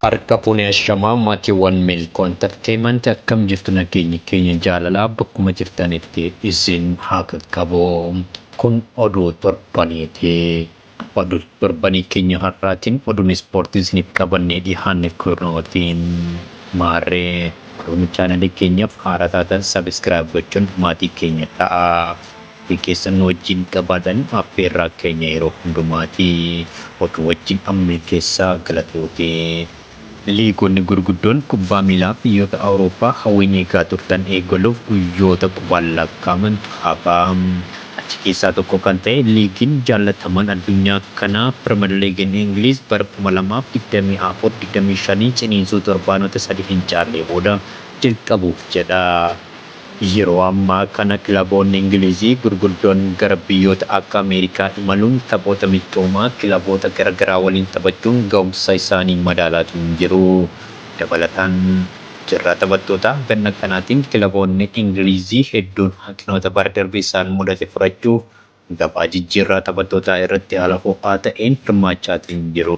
Harka fuune ashamaa maatiiwwan Milkoo Entertainment akkam jirtu nageenyi keenya jaalalaa bakkuma jirtanitti isin haa qaqqabu kun oduu torbaniiti oduu torbanii keenya har'aatiin oduun ispoortii isiniif qabannee dhihaanne kunooti maarree oduu chaanalii keenyaaf haaraa taatan sabiskiraayib gochuun maatii keenya ta'aa. Maatii keessan nu wajjin qabaadhan affeerraa keenya yeroo hundumaati. Oduu wajjin amma milkeessaa galatooti. Liigonni gurguddoon kubbaa miilaa biyyoota Awurooppaa hawwiin eegaa turtan eegaluuf guyyoota qubaan lakkaa'amantu hafa. Achi keessaa tokko kan ta'e liigiin jaallatamaan addunyaa kanaa Piriimer Liigiin Ingiliiz bara 2024, 25 ciniinsuu torbaanota sadii hin caallee booda jalqabuuf jedha. Yeroo ammaa kana kilaboonni Ingilizii gurguddoon gara biyyoota akka Ameerikaa imaluun taphoota michoomaa kilaboota gara garaa waliin taphachuun ga'umsa isaanii madaalaatii hin jiru. Dabalataan, carraa taphattootaa ganna kanaatiin kilaboonni Ingilizii hedduun hanqinoota bara darbe isaan mudate furachuuf gabaa jijjiirraa taphattootaa irratti haala ho'aa ta'een hirmaachaatiin jiru.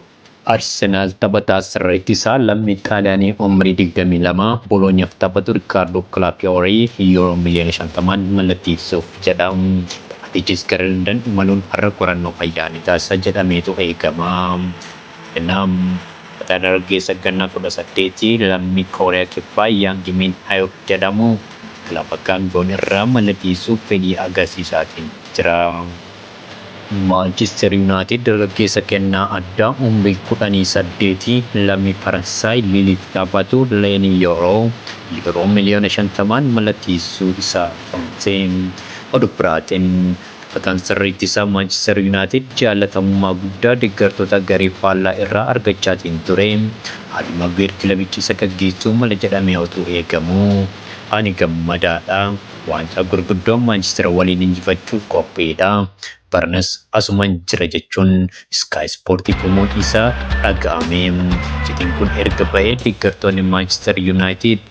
Arsenaal taphataa sarara ittisaa lammii Xaaliyaanii umrii digdamii lama Boloonyaaf taphatu Rikkaardoo Kilaapiyoorii Yuuroo miliyoona shantamaan mallatteessuuf jedha. Taphatichis gara Landan imaluun har'a qorannoo fayyaa ni taasisa jedhameetu eegama. Nam. Dargaggeessa ganna 18 lammii Kooriyaa Kibbaa Yaang Miin Hayuk jedhamu kilaba Gaangiwoon irraa mallateessuuf fedhii agarsiisaatiin jira. Maanchister Yunaayitid dargaggeessa kennaa addaa umrii 18 lammii Faransaay Liiliif taphatu Leenii Yooroo Yuuroo miliyoona 50'n mallateessuu isaa himte. Oduu biraatiin. Taphataan sirra ittisaa Maanchister Yunaayitid jaallatamummaa guddaa deggartoota garee faallaa irraa argachaatiin ture Haari Maaguweer kilabicha isa gaggeessuu mala jedhamee otuu eegamuu Ani gammadaadha. Waancaa gurguddoo Maanchister waliin injifachuuf qophiidha. Baranas asuman jira jechuun Sky Sportiif himuun isaa dhaga'ame. Iccitiin kun erga bahee deggartoonni Maanchister Yunaayitid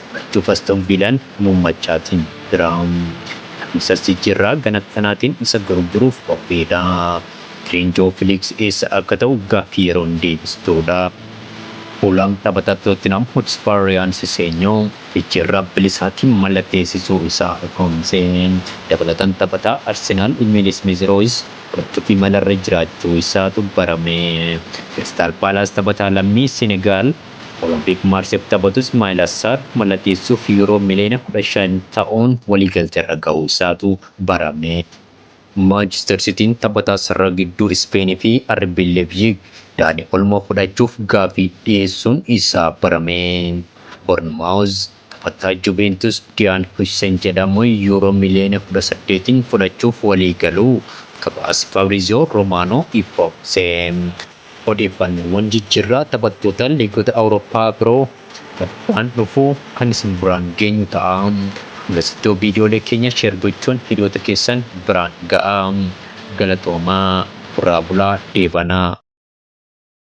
Achuf Aston Viilaan Muummachaatiin jira. Kamisas jijjiirraa gana kanaatiin isa gurguruuf qophiidha. Firiin Joo Filiiksi eessa akka ta'u gaaffii yeroon deebistuudha. Fuulaam taphataa Tootinhaam Hotspaar Riyaan Siseenyoo jijjiirraa bilisaatiin mallatteessisuu isaa ifoomse. Dabalataan taphataa Arsenaal Emiil Ismiiz Rooyis fudhachuuf imalarra jiraachuu isaatu barame. Kiristaal Paalaas taphataa lammii Senegaal. Olompik Maarsiif taphatu Ismaa'il Assaar mallatteessuuf Yuuroo miliyoona 15 ta'uun waliigalteerra gahuu isaatu barame. Maanchister Sitiin taphataa sarara gidduu Ispeenii fi RB Leepziig Daanii Olmoo fudhachuuf gaaffii dhiyeessuun isaa barame. Bornmaawuz. Taphataa Juventus Diyaan Huijsen jedhamu Yuuroo miliyoona kudha saddeetiin fudhachuuf waliigaluu gabaasi Fabriziyoo Romaanoo ifoomse. Odeeffannoowwan jijjiirraa taphattoota liigota Awurooppaa biroo torbaan dhufu kan isin biraan geenyu ta'a. Hangasittuu viidiyoolee keenya share gochuun hiriyoota keessan biraan ga'aa. Galatoomaa! Horaa bulaa! Deebanaa!